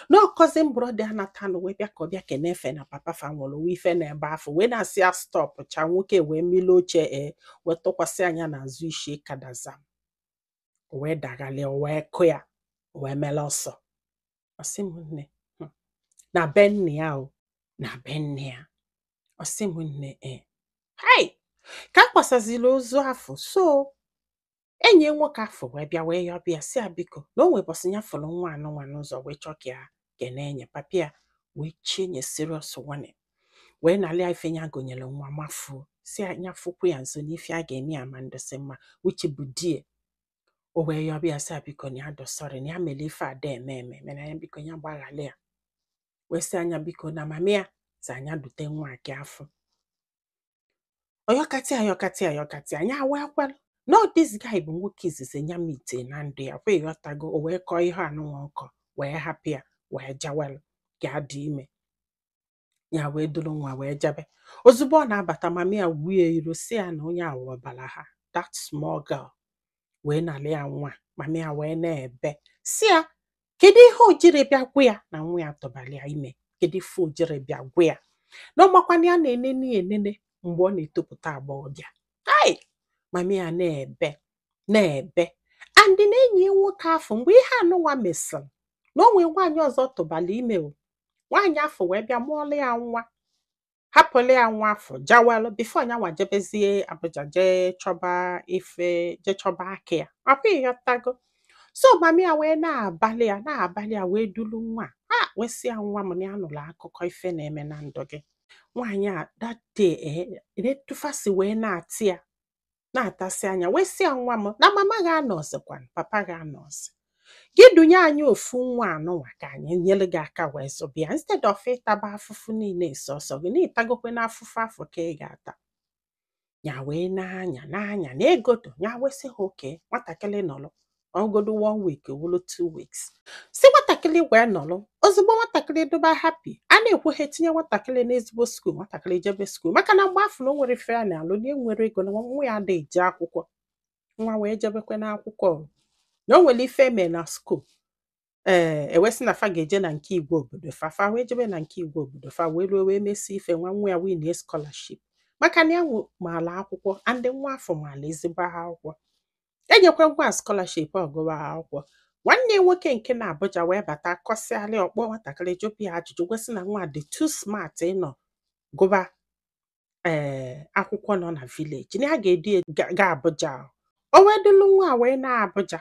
na cousin brother ya natanụ wee bịa ka ọ bịa kene efe na papa fa nwụrụ wee fụ ya n'ebe afụ wee na-asị ya stop cha nwoke wee mili oche e wee tụkwasị nya n'azụ isi kadazam o wee daghalịa o wee kụ ya o wee mele ọsọ ọ sị m nne na be nne ya o na be nna ya ọ sị m nne e hai ka a kwasaziri ozu afụ so enyi nwoke afụ wee bịa wee yọba ya sị ya biko na o nwee ụbọsị ya fụrụ nwa anụnwa n'ụzọ wee chọọ ka ya kene nya papa ya wee chie nye serious warning wee nalị ife nya gonyere nwa mafuo sị na nya fụkwu ya nso n'ife a ga-eme ya ma ndụsị mma uche bụ die o wee yọba ya sị ya biko na ya dị sorry na ya mere ife a da eme eme mana ya biko ya gbaghalụ ya wee sị nya biko na mama ya sị nya dute nwa nke afụ ọ yọkata ya yọkata ya yọkata ya nya ewee kwelu na ọ this guy bụ nwoke izizi nya meet na ndụ ya ọkwa ị ghọtago o wee kọọ ihe anụnwa nkọ wee hapụ ya wee jawalụ ka ọ dị ime nya ewee duru nwa wee jabe ozugbo ọ na-abata mama ya wuo ya iru sị ya na onye a wụ ọbara ha that small girl wee nalị ya nwa mama ya wee na-ebe sị ya kedu ihe o jiri bịa gwa ya na nwa ya tụbara ya ime kedu ife o jiri bịa gwa ya na ọ makwa na ya na-enene ya enene mgbe ọ na-etopụta agbọghọbịa ai mama ya na-ebe na-ebe and na enyi ya nwoke afụ mgbe ihe anụnwa mesịrị na o nwee nwaanyị ọzọ tụbara ime o nwaanyị afụ wee bịa mụọlụ ya nwa hapụlụ ya nwa afụ jawalụ before nyanwa jebezie Abuja jee chọba ife jee chọba aka ya ọkwa ị ghọtago so mama ya wee na-abalị ya na-abalị ya wee dulu nwa a wee sị ya nwa m na ya nụrụ akụkọ ife na-eme na ndụ gị nwaanyị a that day na-etufasi wee na-atị ya na-atasị anya wee sị ya nwa m na mama gị anọzikwa papa gị anọzi gị dunye anyị ofu nwa anụnwa ka anyị nyere gị aka wee zụba ya instead of ịtaba afụfụ niile sọsọ gị na ị tagokwe n'afụfụ afụ ka ị ga-ata ya wee na-anya na-anya na egodo ya wee sị ha okay nwatakịrị nọrọ godu one week wụrụ two weeks sị nwatakịrị ngwa nọrọ ozugbo nwatakịrị dịba happy a na-ekwu ha tinye nwatakịrị n'ezigbo school nwatakịrị jebe school maka na mgbe afụ na o nwerọ ife ya na-alụ na enwerọ ego na nwa ya ada eje akwụkwọ nwa wee jebekwe n'akwụkwọ o. na o nwere ife e me na school ee eh, e wee sị na fa ga-eje na nke igwe obodo fa fa wee jebe na nke igwe obodo fa wee ruo wee mesịa ife nwa nwa ya win scholarship maka na ya maala akwụkwọ and nwa afụ maala ezigbo akwụkwọ enyekwa nwa scholarship ọ gụwa akwụkwọ nwanne ya nwoke nke nọ Abuja wee bata kọsịalị ọ kpọ nwatakịrị jụba ya ajụjụ wee sị na nwa a dị too smart ịnọ gụba ee eh, akwụkwọ nọ na village na ya ga-eduga ya Abuja o wee dulu nwa wee naa Abuja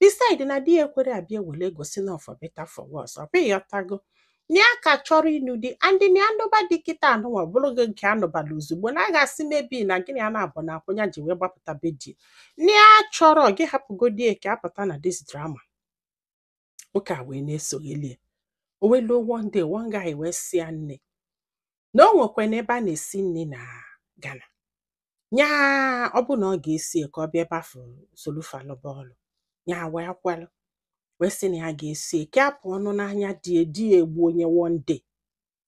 beside na di ya ekwere abịa e were gosi na ọ for better for worse ọ bụ ị ghọtago na ya ka chọrọ ịnụ di and na ya nụba di kịta anụnwa ọ bụrụ gị nke anụbala ozugbo na a ga-asị maybe na gịnị a na-abụ na akwụnya ji wee gbapụta be di na ya chọrọ gị hapụgodi ya ka apụta na this drama nwoke a wee na-esogheli ya o wee luo one day one guy wee sị ya nne na o nwekwana ebe a na-esi nri na Ghana nya ọ bụ na ọ ga-esi ka ọ bịa ebe afụ solu fa lụba ọlụ nya wee kwelụ wee sị na ya ga-esi ya ka ya pụọnụ n'anya di ya di egbuo nya one day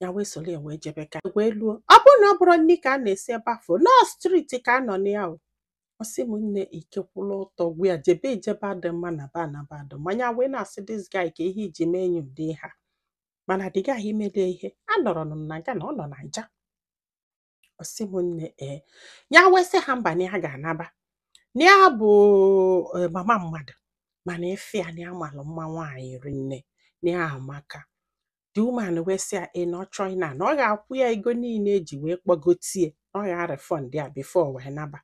ya wee soro ya wee jebe ka wee luo ọ bụrụ na ọ bụrọ nri ka a na-esi ebe afụ na ọ street ka a nọ na ya o ọ sị m nne ike kwụlụ ọtọ gwụ ya jebe ijebe adị mma naba naba adị mma ya wee na-asị this guy ka ihe i ji mee nya ụdị ihe a mana the guy melu ihe a anọrọ na Ghana ọ nọ na Naija ọ sị m nne ee ya wee sị ha mba na ya ga-anaba na ya bụ eh, mama mmadụ mana efe ya na ya malụ mma nwaanyị rinne na ya amaka the woman wee sị ya na ọ chọọ ịna na ọ ga-akwụ ya ego niile e ji wee kpọgote ya na ọ ga-arefund ya before o wee naba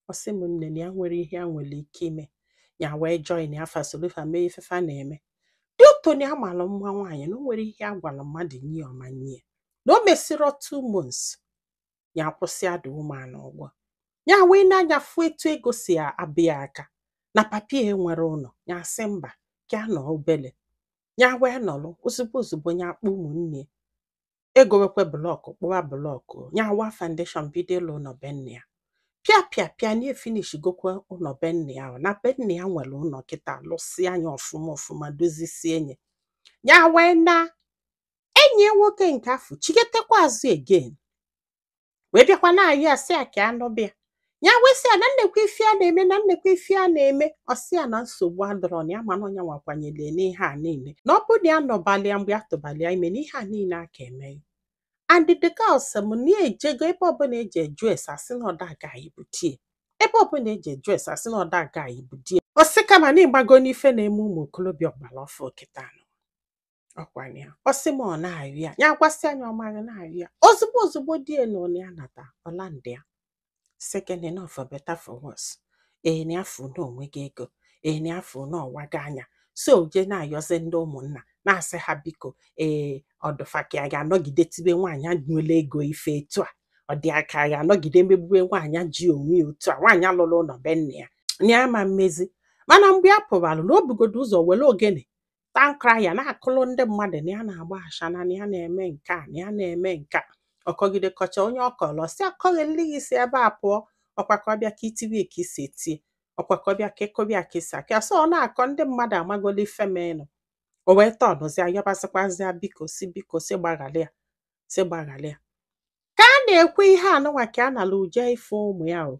ọ sị m nne na ya nwere ihe a nwere ike ime ya wee join fa solu fa mee ife fa na-eme due to na ya mara mma nwaanyị na o nwere ihe a gwara mmadụ nye ya ọ ma nye ya na o mesirọ two months ya akwụsịa the woman ụgwọ ya wee na nya fụ etu ego si abịa aka na papa ya enwerọ ụlọ ya sị mba ka ya nọ obele ya wee nọrọ ozugbo ozugbo ya akpọ ụmụnne egowekwe block kpụwa block ya awa foundation bido ịlụ ụlọ be nna ya pịa pịa pịa nya efinish gokwa ụlọ be nna ya ahụ na be nna ya nwere ụlọ kịta lụsịa nya ọfụma ọfụma dozisie nya ya wee na enyi ya nwoke nke afụ chigetekwa azụ again wee bịakwa na-ayọ ya sị ya ka a nụba ya ya wee sị ya na nekwa ife ya na-eme na nekwa ife ya na-eme ọ sị ya na nsogbu adịrọ na ya ma na ọ nya nwa kwanyere ya n'ihe a niile na ọ bụrụ na ya nụbalụ ya mgbe ya tụbalụ ya ime na ihe a niile aka eme ya and the girl sị m na ya ejego ebe ọbụla e ji eju ese a sị na ọ that guy bụ di ya ebe ọbụla e ji eju ese a sị na ọ that guy bụ di ya ọ sị kama na ị mago na ife na-eme ụmụ okorobịa ọgbara ọfụụ kịta nụ ọkwanye ya ọ sị m ọ na-ayọ ya ya gwasịa nya ọ marị na-ayọ ya ozugbo ozugbo di ya na onye anata ọ landị ya second enough for better for worse nya afụ na o nwego ego nya afụ na ọ wago anya so je na-ayọzi ndị ụmụnna na-asị ha biko ee ọ dị fa ka a ga-anọgide tibe nwaanyị a nwere ego ife etu a ọ dị fa ka a ga-anọgide megbube nwaanyị ji onwe ya otu a nwaanyị a lụrụ ụlọ be nna ya na ya ama mezi mana mgbe ya pụbalụ na o bugodu ụzọ were ogene town crier na-akụlụ ndị mmadụ na ya na-agba ashana na ya na-eme nke a na ya na-eme nke a ọ kọgide kọcha onye ọ kọlọ sị akọlị gị si ebe a pụọ ọkwa ka ọbịa ka itiwe ka isi etie ọkwa ka ọbịa ka ekobịa ka isi akịa so ọ na-akọ ndị mmadụ amagolo ife menụ o wee tọnụzia yọbasịkwazịa biko sị biko sị gbaghara ya sị gbaghara ya ka a na-ekwu ihe anụnwa ka a nala uje ife ụmụ ya o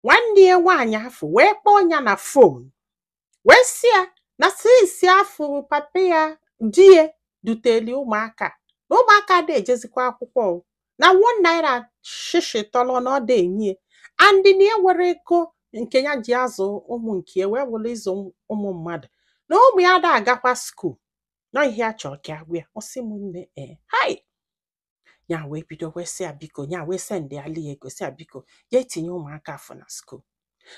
nwanne ya nwaanyị afụ wee kpọọ ya na fon wee sị ya na since afụ papa ya di ya duteli ụmụaka na ụmụaka ada ejezikwa akwụkwọ o. na one naira shishi tọlọ na ọ da enye ya. and na ya were ego nke ya ji azụ ụmụ nke ya wee were ịzụ ụmụ mmadụ na ụmụ ya ada agakwa skuul na ihe a chọrọ ka a gwa ya ọ sị m nne ee hai ya wee bido wee sị ya biko ya wee sendịala ya ego sị ya biko ya etinye ụmụaka afụ na skuul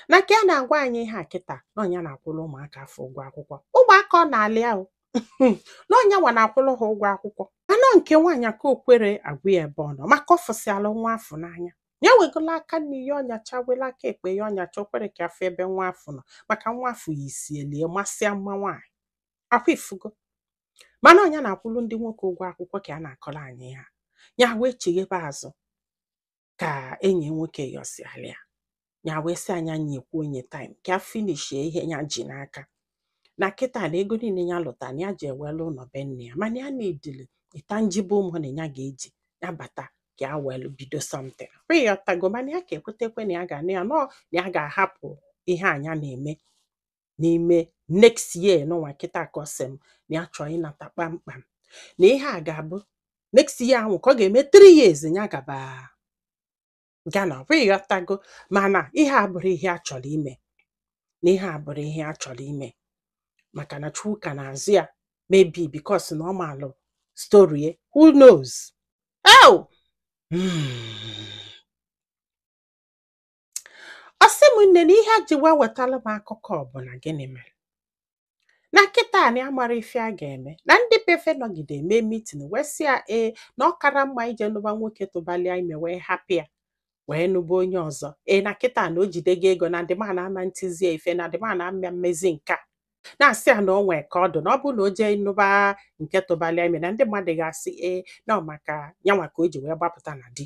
na ka ya na-agwa anyị ihe a kịta na ọ nya na-akwụrụ ụmụaka afụ ụgwọ akwụkwọ ụmụaka ọ na-alị ahụ na ọ nya nwa na-akwụrụ ha ụgwọ akwụkwọ anọ nke nwaanyị ka o kwere agwa ya ebe ọ nọ maka ọ fụsịala nwa afụ n'anya ya wegolo aka nni ya ọnyacha wela aka ekpe ya ọnyacha o kwere ka a fụ ebe nwa afụ nọ maka nwa afụ yisielie masịa mma nwaanyị akwa ị fụgo mana ọ nya na-akwụrụ ndị nwoke ụgwọ akwụkwọ ka a na-akọrọ anyị ya ya wee chighebe azụ ka enyi nwoke yọsiala ya ya wee sị ya nya nyekwuo nya taim ka a finishie ihe ya ji n'aka na kịta na ego niile ya lụta na ya ji ewelu ụnọ be nne ya mana ya needili tangible money ya ga-eji ya bata ka ya welu bido something kwa ị ghọtago mana ya ka ekwetekwe na ya ga na ya nọ na ya ga-ahapụ ihe a nya na-eme n'ime next year nụnwa kịta ka ọ sị m na ya chọọ ịnata kpamkpam na ihe a ga-abụ next year ahụ ka ọ ga-eme 3 years ya gaba Ghana ọ bụ ị ghọtago mana ihe a abụrụ ihe a chọrọ ime na ihe a abụrụ ihe a chọrọ ime maka na Chukwu ka na-azụ ya maybe because na ọ maalụ story ya, who knows oh! Hmm. ọ sị m nne na ihe a ji wee wetara m akụkọ bụ na gịnị mere na kịta na ya amara ife a ga-eme na ndị be fe nọgide mee mitin wee sị ya ee na ọ kara mma ije nụba nwoke tụbalịa ime wee hapụ ya wee nụba onye ọzọ ee na kịta na o jidego ego na the man ama ntizie ife na the man ama mmezi nke a na-asị ya na o nwee ka ọ dụ na ọ bụrụ na o jee nụba nke tụbalịa ime na ndị mmadụ ga-asị ee na ọ maka nyanwa ka o ji wee gbapụta na di